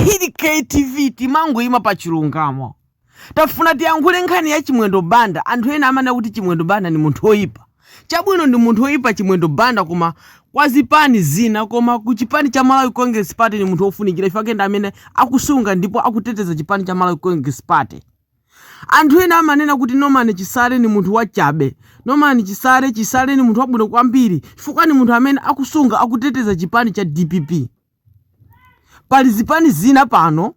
hili ktv timangoima pa chilungamo tafuna tiyankhule nkhani ya chimwendo banda anthu ena amanena kuti chimwendo banda ni munthu oyipa chabwino ndi munthu oyipa chimwendo banda koma kwa zipani zina koma ku chipani cha malawi congress party ni munthu ofunikira chifukwa ndi amene akusunga ndipo akuteteza chipani cha malawi congress party anthu ena amanena kuti norman chisale ni munthu wachabe norman chisale ni munthu wabwino kwambiri chifukwa ni munthu amene akusunga akuteteza chipani cha dpp Pali zipani zina pano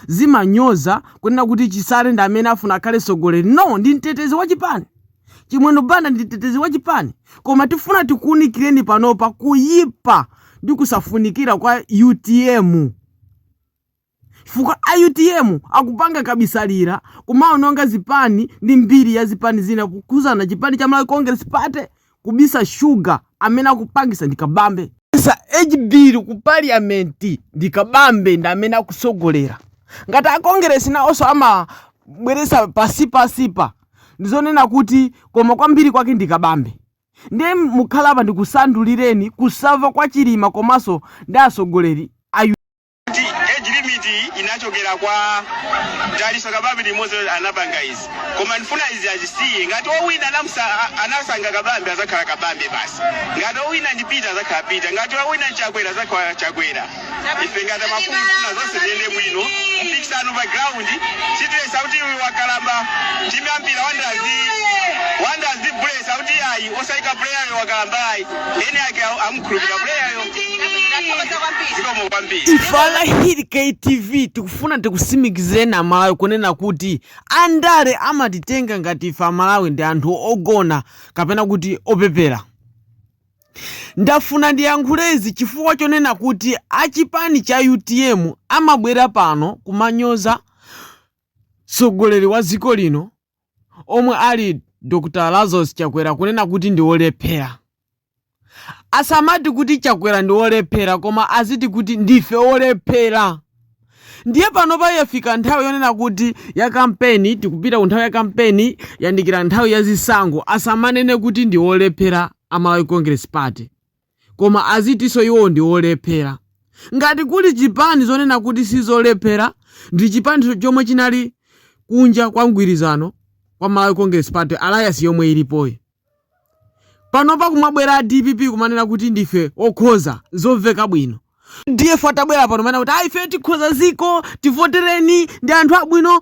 zimanyoza kunena kuti Chisale ndi amene afuna akhale mtsogoleri. No, ndi mtetezi wa chipani. Chimwendo Banda ndi mtetezi wa chipani. Koma tifuna tikuunikireni panopa kuyipa ndi kusafunikira kwa utm. Chifukwa a utm akupanga kabisalira kumaononga zipani ndi mbiri ya zipani zina kukhudzana chipani cha Malawi Congress Party kubisa sugar amene akupangisa ndi Kabambe. Za HB ku parliament ndi Kabambe ndi amene akutsogolera. Ngati a Congress naonso amabweretsa pasi pasi pa ndi zonena kuti koma kwambiri kwake ndi Kabambe. Ndiye mukhale apa ndikusanthulireni kusava kwa Chilima komanso ndi atsogoleri a. kuti age limit iyi inachokera kwa dalitso kabambe limodzi loti anapanga izi koma ndifuna izi azisiye ngati owina anasankha kabambe azakhala kabambe basi ngati owina ndi peter azakhala peter ngati owina chakwera azakhala chakwera ife ngati mafumu tifuna zonse ziyende bwino mpikisano pa ground sitiletsa kuti uyu wakalamba timu ya mpira wanderers sitiletsa kuti ayi osayika player wakalamba ayi eni ake awo amamukhulupirira playayo Ndakhoza kwambiri. zikomo kwambiri ife a hili ktv tikufuna tikutsimikizireni amalawi kunena kuti andale amatitenga ngati ife amalawi ndi anthu ogona kapena kuti opepera ndafuna ndiyankhulezi chifukwa chonena kuti achipani cha utm amabwera pano kumanyoza mtsogoleri wa dziko lino omwe ali Dr Lazarus Chakwera kunena kuti ndi olephera. Asamati kuti Chakwera ndi olephera koma aziti kuti ndife olephera. Ndiye panopa yafika nthawi yonena kuti ya kampeni tikupita ku nthawi ya kampeni yandikira nthawi ya zisankho asamanene kuti ndi olephera a Malawi Congress Party. Koma azitinso iwo ndi olephera. Ngati kuli chipani zonena kuti sizolephera ndi chipani chomwe chinali kunja kwa mgwirizano wa Malawi Congress Party alliance yomwe ilipoyi. Panopa kumabwera a dpp kumanena kuti ndife okhoza zomveka bwino. Udf atabwera pano kumanena kuti ayi ifeyo tikhoza ziko tivotereni ndi anthu abwino.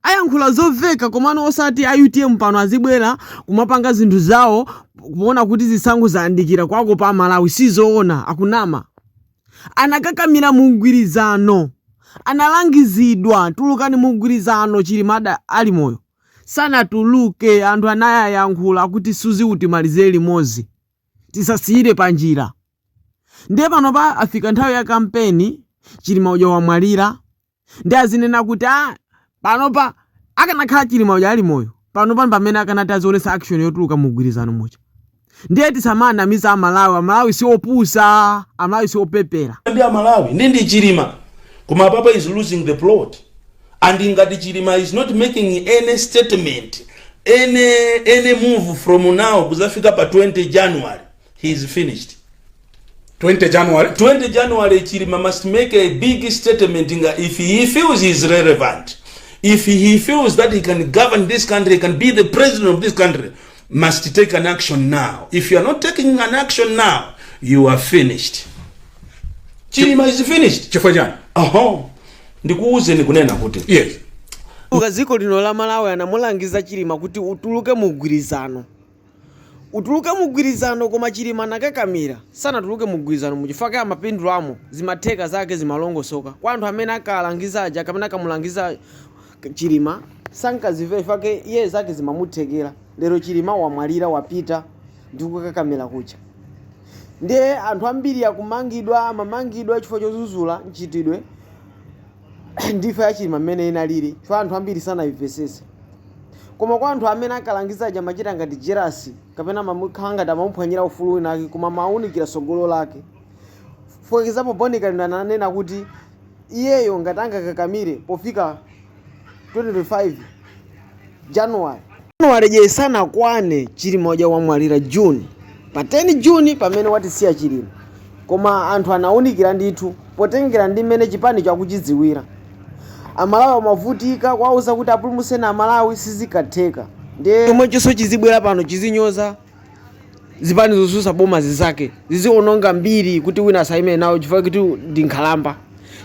Ayankhula zoveka komano osati a utm pano azibwera kumapanga zinthu zawo kuona kuti zisankho zayandikira kuwakopa a Malawi sizoona akunama anakakamira mu mgwirizano analangizidwa tulukani mu mgwirizano Chilima ada ali moyo sanatuluke anthu anayayankhula kuti Suzi utimalize limodzi tisasiyire panjira ndiye panopa afika nthawi ya kampeni Chilima uja wamwalira ndiye azinena kuti a panopa akanakhala chilima uja ali moyo panopa pamene akanati azionesa action yotuluka mu mgwirizano muja ndiye tisamanamize amalawi amalawi si opusa amalawi si opepera ndi amalawi ndi ndi chilima koma apapa is losing the plot and ngati chilima is not making any statement any, any move from now kuzafika pa 20 january he is finished 20 january 20 january chilima must make a big statement nga if he feels he is relevant if he feels that he can govern this country he can be the president of this country must take an action now if you are not taking an action now you are finished chilima is finished chifukwa chani aho ndikuwuzeni kunena kuti yes uka dziko lino la malawi anamulangiza chilima kuti utuluke mu mgwirizano Utuluke mugwilizano koma chilima anakakamira sanatuluke mugwilizano mu chifukwa chake amapindulamo zimatheka zake zimalongosoka kwa anthu amene ankalangiza aja pamene ankamulangiza chilima sankazivera chifukwa chake iye zake zimamuthekera lero chilima wamwalira wapita ndi kukakamila kuja ndiye anthu ambiri akumangidwa amamangidwa chifukwa chozuzula mchitidwe wa imfa ya chilima mmene inalili chifukwa anthu ambiri sanayimvesese koma kwa anthu amene ankalangiza aja amachita ngati jerasi kapena amakhala ngati amamuphwanyira ufulu wina ake koma amawunikira tsogolo lake for example boni kalindo ananena kuti iyeyo ngati angakakamire pofika 2025 january january yo sinakwane chilima uja wamwalira june pa 10 june pamene watisiya chilima koma anthu anawunikira ndithu potengera ndi mmene chipanicho akuchidziwira amalawi amavutika kwauza kuti apulumutseni amalawi sizikatheka ndiye chomwechonso chizibwera pano chizinyoza zipani zosusa boma zizake ziziononga mbiri kuti wina asaime nawo chifukwa kuti ndi nkhalamba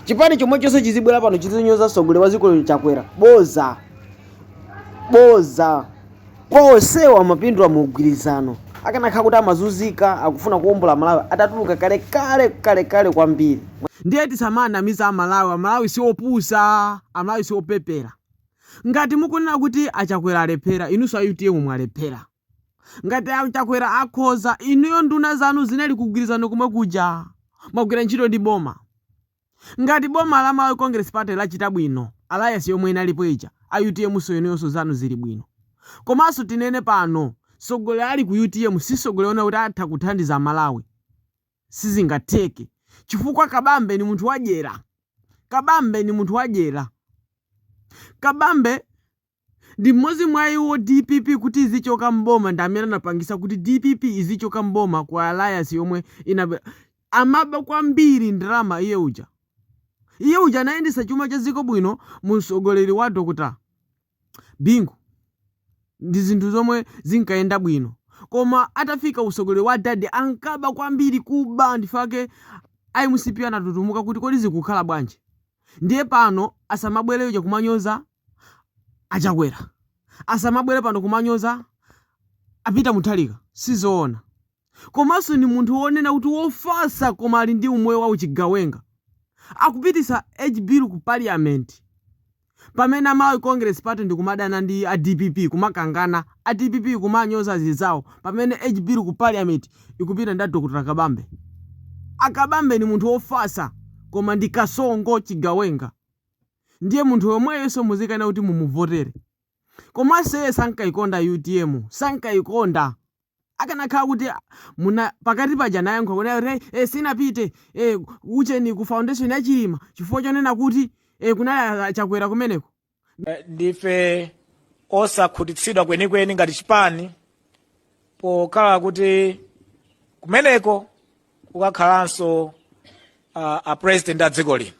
chipani chomwe chonse chizibwera pano chizinyoza mtsogoleri wa dziko chakwera boza boza kwa onsewa amapindula mu mgwirizano akanakhala kuti amazunzika akufuna kuombola malawi atatuluka kale kale kale kale kwambiri ndiye tisamanamize amalawi amalawi si opusa amalawi si opepera ngati mukunena kuti achakwera alephera inunso a utm mwalephera Ngati a Chakwera akhoza, inuyo nduna zanu zinali ku mgwirizano komwe kuja? Mwagwira ntchito ndi boma? Ngati boma la Malawi Congress Party lachita bwino, alliance yomwe inalipo ija, a utm so inuyonso zanu zili bwino. Komanso tinene pano, tsogoleri ali ku utm si tsogoleri onena kuti atha kuthandiza Amalawi. Sizingatheke chifukwa Kabambe ndi munthu wadyera. Kabambe ndi munthu wadyera. Kabambe. Ndi mmodzi mwa iwo dpp kuti izichoka m'boma ndi amene anapangisa kuti dpp izichoka m'boma ku alliance yomwe inabwera amaba kwambiri ndalama iye uja iye uja anayendesa chuma cha dziko bwino mu utsogoleri wa Dr Bingu ndi zinthu zomwe zinkayenda bwino koma atafika utsogoleri wa dad ankaba kwambiri kuba ndifake a mcp anatutumuka kuti kodi zikukhala bwanji ndiye pano asamabwere uja kumanyoza a Chakwera asamabwere pano kumanyoza a Peter Mutharika sizoona. Komanso ndi munthu wonena kuti wofasa koma ali ndi umoyo wa uchigawenga. Akupitisa age bill ku parliament pamene a Malawi Congress Party ndi kumadana ndi a dpp kumakangana, a dpp kumanyoza zizawo pamene age bill ku parliament ikupita ndi a Dr Kabambe. A Kabambe ndi munthu wofasa koma ndi kasongo chigawenga. ndiye munthu yomweyonso muzikanena kuti mumuvotere komanso iye sankayikonda utm sankayikonda akanakhala kuti munaona pakati paja anayankha kunena kuti hey, sinapite hey, ucheni ku foundation ya chilima chifukwa chonena kuti hey, kunali achakwera kumeneko Eh, ndife osakhutitsidwa kwenikweni ngati chipani pokhala kuti kumeneko kukakhalanso uh, a president a dziko lino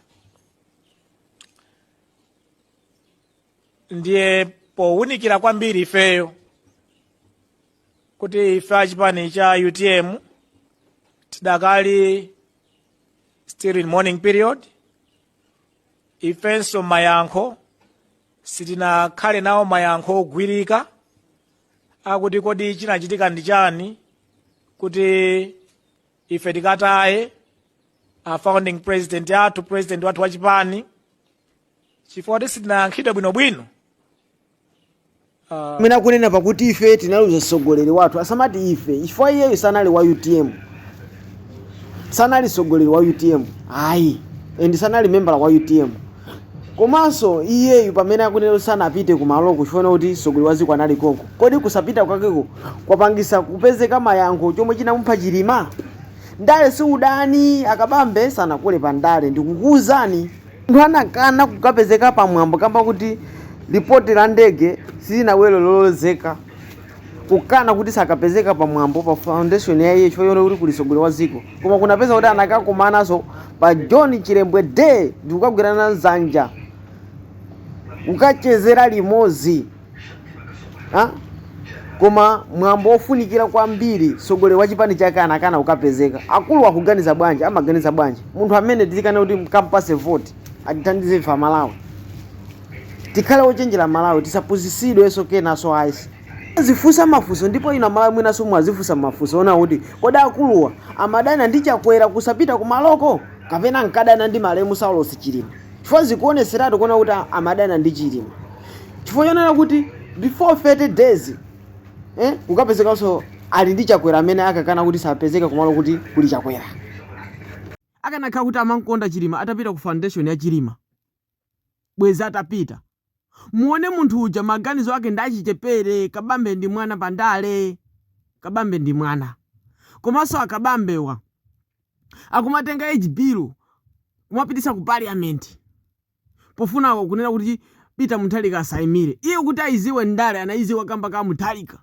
ndiye powunikira kwambiri ifeyo kuti ife achipani cha utm tidakali still in mourning period ifenso mayankho sitinakhale nawo mayankho ogwirika akuti kodi chinachitika ndi chani kuti ife tikataye a founding president athu president wathu wa chipani chifukwa choti sitinayankhidwe bwinobwino mmene akunena pakuti ife tinaluza mtsogoleri wathu asamati ife chifukwa iyeyo sanali wa utm sanali mtsogoleri wa utm ayi and sanali membala wa utm Komanso iyeyu pamene akunena kuti sanapite kumaloko chifukwa chonena kuti mtsogoleri wa dziko anali konko, kodi kusapita kwakeko kwapangisa kupezeka mayankho chomwe chinamupha Chilima? Ndale si udani, a Kabambe sanakule pa ndale ndikukuuzani. Munthu anakana kukapezeka pa mwambo kamba kuti lipoti la ndege silinabwere lolozeka. kukana kuti sakapezeka pa mwambo pa foundation ya iye chifukwa kuti kuli sogoleri wa dziko koma kunapezeka kuti anakakumanaso pa john chilembwe day ndikukagwirana nzanja kukachezera limodzi ha? koma mwambo ofunikira kwambiri sogoleri wa chipani chake anakana kukapezeka akulu akuganiza bwanji amaganiza bwanji munthu amene tizikanena kuti tikampase vote atithandize ife amalawi Tikhale ochenjera amalawi tisapusisidweso kenaso ayi. Tizifusa mafuso ndipo inu amalawi mwinaso mwazifusa mafuso onena kuti kodi akuluwa amadana ndi chakwera kusapita kumaloko kapena ankadana ndi malemu Saulos Chilima chifukwa zikuoneseratu kuona kuti amadana ndi chilima chifukwa chonena kuti before 30 days eh kukapezekanso ali ndi chakwera amene ankakana kuti sapezeka kumalo kuti kuli chakwera. Akanakhala kuti amankonda chilima atapita ku foundation ya chilima. Bwezi atapita. Muone munthu uja maganizo ake ndi achichepere kabambe ndi mwana pa ndale. Kabambe ndi mwana. Komanso a Kabambewa akumatenga age bill kumapititsa ku parliament pofuna kunena kuti Peter Mutharika asaimire. Iye kuti aiziwe ndale anaiziwa kamba ka Mutharika.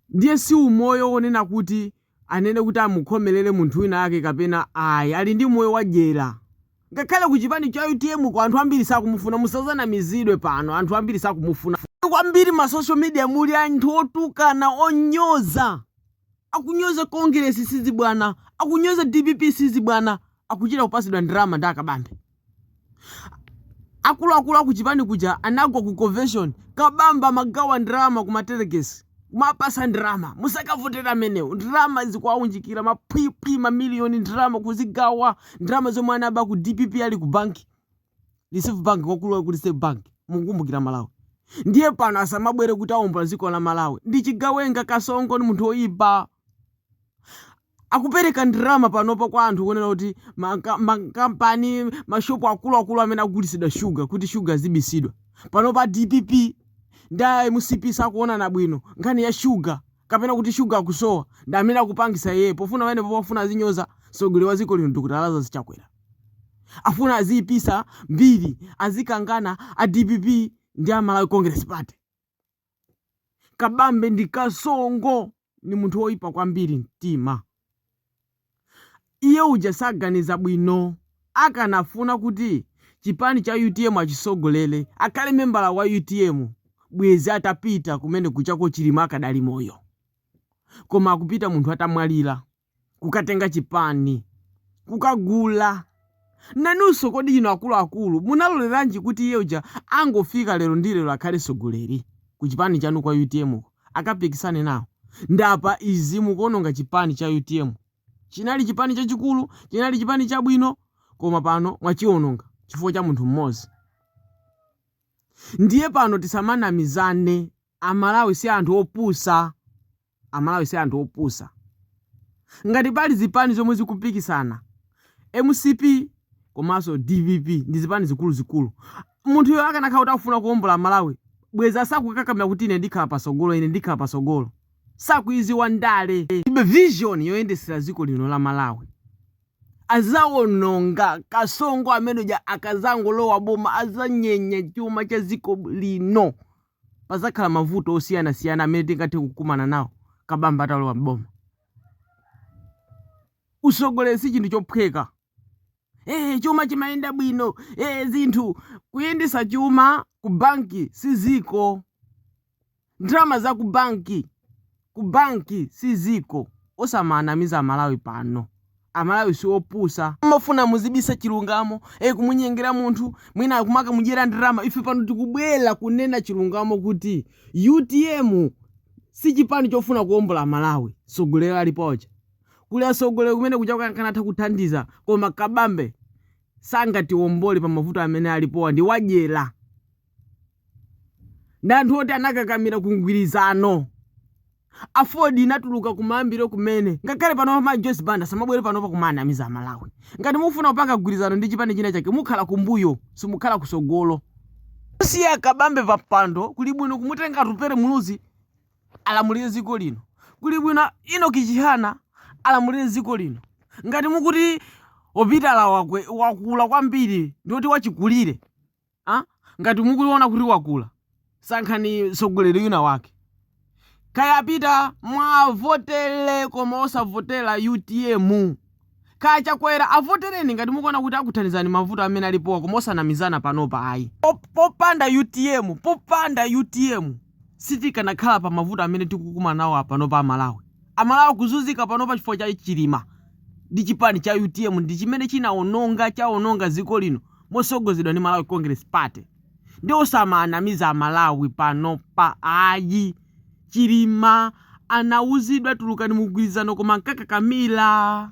Ndiye si umoyo wonena kuti anene kuti amukhomelere munthu wina ake kapena ayi. Ali ndi moyo wa dyera. Ngakhale ku chipani cha utm ko anthu ambiri sakumufuna. Musazanamizidwe pano. Anthu ambiri sakumufuna. Kwambiri ma social media muli anthu otukana, onyoza. Akunyoza Kongeresi sizibwana. Akunyoza dpp sizibwana. Akuchita kupasidwa ndalama ndi a Kabambe. Akuluakulu aku chipani kuja anagwa ku convention Kabambe amagawa ndalama ku ma delegates kumawapasa ndalama musakavotere amenewo ndalama ndikuwaunjikira ma phwiphwi ma million ndalama kuzigawa ndalama zomwe anaba ku dpp ali ku banki reserve bank kwakulu ku reserve bank mukukumbukira amalawi ndiye pano asamabwere kuti aombola dziko la malawi ndi chigawenga kasongo ndi munthu oyipa akupereka ndalama panopa kwa anthu kunena kuti makampani mashopu akuluakulu amene akugulitsidwa shuga kuti shuga azibisidwa panopa dpp ndi a mcp sakuonana bwino nkhani ya shuga kapena kuti shuga akusowa ndi amene akupangisa yeye pofuna pamene pofuna azinyoza mtsogoleri wa dziko lino dr lazarus chakwera afuna aziyipisa mbiri azikangana a dpp ndi a malawi congress party Kabambe ndi kasongo, ndi munthu woipa kwambiri mtima. Iye uja saganiza bwino. Akanafuna kuti chipani cha utm achisogolele, akhale membala wa utm, bwezi atapita kumene kuja ko Chilima akadali moyo. Koma akupita munthu atamwalira. kukatenga chipani, kukagula. Nanunso kodi inu akuluakulu munaloleranji kuti iye uja angofika lero ndi lero akhale tsogoleri ku chipani chanu kwa utm ko akapikisane nawo? Ndi apa izi mukuononga chipani cha utm. Chinali chipani chachikulu, chinali chipani chabwino koma pano mwachiononga chifukwa cha munthu mmodzi. Ndiye pano tisamanamizane Amalawi si anthu opusa Amalawi si anthu opusa ngati pali zipani zomwe zikupikisana mcp komanso dpp ndi zipani zikuluzikulu munthuyo akanakhala kuti akufuna kuombola Malawi bwezi asakukakamila kuti ine ndikhala pasogolo ine ndikhala pasogolo sakuziziwa ndale alibe vision yoyendesela ziko lino la Malawi azaononga kasongo amene uja akazangolowa boma azanyenya chuma cha ziko lino. Pazakhala mavuto osiyanasiyana amene tingathe kukumana nawo Kabambe atalowa m'boma. Usogoleri si chinthu chophweka. Ee, chuma chimayenda bwino, ee, zinthu, kuyendesa chuma ku banki si ziko. Ndrama za ku banki Ku bank si ziko. Osamanamiza amalawi pano. Amalawi si opusa. Mumafuna muzibisa chilungamo. Eeh kumunyengera munthu mwina kumakamudyera ndrama. Ife pano tikubwera kunena chilungamo kuti utm si chipani chofuna kuombola Malawi. Tsogoleri alipo aja. Kuli atsogoleri kumene kuja akanatha kuthandiza koma Kabambe sangatiombole pa mavuto amene alipowa ndi wadyera. ndi anthu oti anakakamira ku mgwirizano. Aford inatuluka kumayambiro kumene. Ngakhale panopa ma Joyce Banda samabwere panopa kumanamiza Amalawi. Ngati mukufuna kupanga mgwirizano ndi chipani china chake mukhala kumbuyo, simukhala kusogolo. Kusiya Kabambe pa mpando kuli bwino kumutenga Atupere Muluzi alamulire ziko lino. Kuli bwino Enoch Chihana alamulire ziko lino. Ngati mukuti a Peter wakwe wakula kwambiri ndi oti wachikulire, ah? ngati mukuona kuti wakula sankhani sogoleri wina wake kaya a Peter muwavotele koma osavotela utm kaya chakwera avotereni ngati mukuona kuti akuthandizani mavuto amene alipowa koma osanamizana panopa ayi Pop- popanda utm popanda utm sitikanakhala pa mavuto amene tikukumana nawo apanopa amalawi amalawi akuzunzika panopa chifukwa cha chilima ndi chipani cha utm ndi chimene chinaononga chaononga ziko lino mosogozedwa ndi Malawi Congress Party nde osamanamiza amalawi panopa ayi chilima anauzidwa tulukani mumgwirizano koma ankakakamila.